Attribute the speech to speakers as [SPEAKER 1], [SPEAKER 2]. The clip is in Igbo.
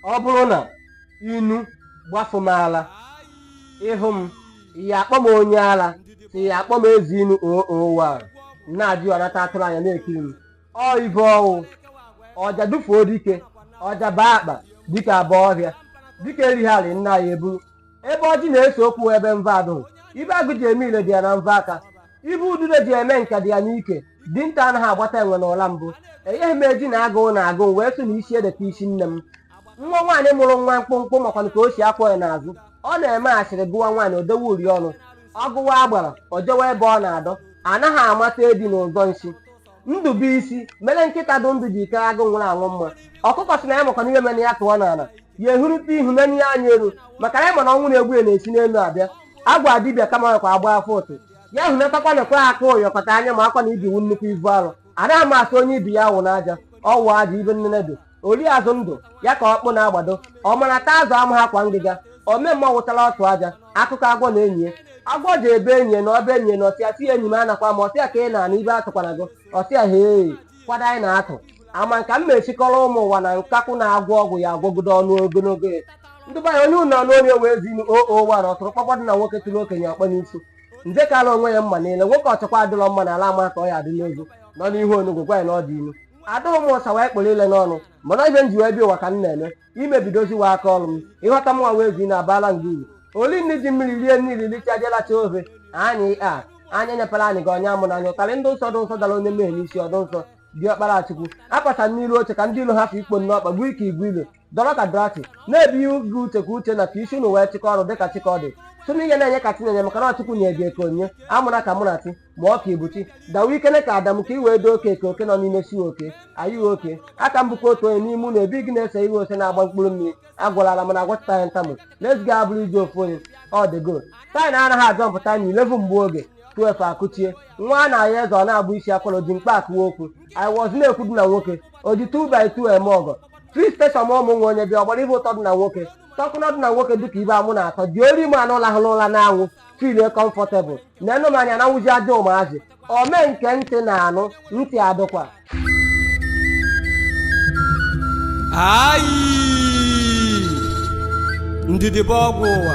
[SPEAKER 1] ọ bụrụ na inu gbafụ m ala ịhụ m ya akpọ m onye ala si ya akpọ m eze inu owa na-ajụ anata atụrụ anya na-ekiri mmọ ibe ọ wụ ọja dufuo dike ọja baa akpa dike abaa ọhịa dike erighị alị nna ya eburu ebe ọjị na-ese okwu wụ ebe mvọ adụghị ibe agụ ji eme ile dị ya na mvọ aka ibe udude ji eme nka dị ya n'ike dinta anaghị agbata enwe na ụla mbụ enyeghị m eji na agụụ na agụụ wee sị na isi edeta isi nne m nwa nwaanyị mụrụ nwa mkpụmkpụ makwanụ ka o si akwọ ya n'azụ ọ na-eme asịrị gụwa nwaanyị o dewe uri ọnụ ọ gụwa agbara o jewe ebe ọ na-adọ anaghị amata edi na ụzọ nsi ndụ bụ isi mere nkịta dụ ndụ ji aka agụ nwụrụ anwụ mma ọkụkọ si na ya makwana ihe mere ya tụọ n'ala ya ehurute ihu menye ya anya elu maka na ya ma na ọnwụ na-egbu ya na-esi n'elu abịa agwa dibịa kama kwa agba afa ụtụ ya hunatakwa na kwe aka ụyọkọta anya makwa na ibi wu nnukwu ibu arụ anaghị m asị onye ibi ya awụna aja ọ wụ aja ibe nnene dị ori azụ ndụ ya ka ọkpụ na-agbado ọ mara taa azụ amaha akwa ngịga ome mma wụtara ọtụ aja akụkọ agwọ na enyi ya agwọ jee be enyi ya na ọba enyi ya nọsịa si ya enyi m anakwa m ọ sị ya ka ị na-ana ibe atụkwana gị ọ sị ya hee kwado anyị na-atụ ama nka m na-esikọrọ ụmụ ụwa na nkakwụ na-agwọ ọgwụ ya agwọgide ọnụ ogologo ya ndị be anyị onye unu na-anụ onu ya wụ eze inu owa ọtụrụkpọkpọ dụ na nwoke tụrụ okenye ọkpọ n'isi nze kara onwe ya mma niile nwoke ọchọkwa adịrọ mma na ala ama ka ọ ya adị n'ozu nọ n'ihu onugwu gwa ya na ọ dị ilu adịghị m ụsa wee kpụrụ ile n'ọnụ mana ibe m ji wee bịa ụwa ka m na-eme imebidoziwa aka ọrụ m ịghọta mwa wụ eze inu abala nga uru oli nni ji mmiri rie nni ilili chajelacha ofe anyị a anya nyepere anyị ga ọnya mụ na anyị ụtarị ndị nsọ dị nsọ dara onye mmehie n'isi ọdụ nsọ dị ọkpara chukwu akpata n'iru oche ka ndị ilo ha fụ ikpo nnọọ kpagbu ike igwe ilo dọrọ ka drati na-ebi ihe ubi uche ka uche na ka isi unu wee chịkọ ọrụ dịka chịkọ dị sụnụ ihe na-enye ka tinenye maka na ọ chukwu nye gị eke onye amụna ka mụ na ti ma ọ ka ibuchi dawa ikele ka adamu ka i wee doo oke ka oke nọ n'ime siwe oke ayịghị oke aka m bụkwa otu onye n'ime ụlọ ebe gị na-ese iwe ose na-agba mkpụrụ mmiri agwalala mana agwachita ya ntamụ let's go abụrụ ije ofu onye ọ dị go taị na anaghị azọ mpụta na ilevu mgbe oge 12 akụchie nwa a na-ahịa eze ọ na-abụ isi akwara ji mkpa akụwa okwu i was na-ekwu dị na nwoke o ji 2 by 2 eme ọgọ three station ma ụmụ nwa onye bịa ọgbara ibe ụtọ dị na nwoke tọkụna dị na nwoke dịka ibe amụ na-atọ dị ori ma anụ lahụrụ ụla n'anwụ filie comfortable na enu m anya na nwụzi ajọ ụmụazị ome nke ntị na-anụ ntị adụkwa ayi ndidi bụ ọgwụ ụwa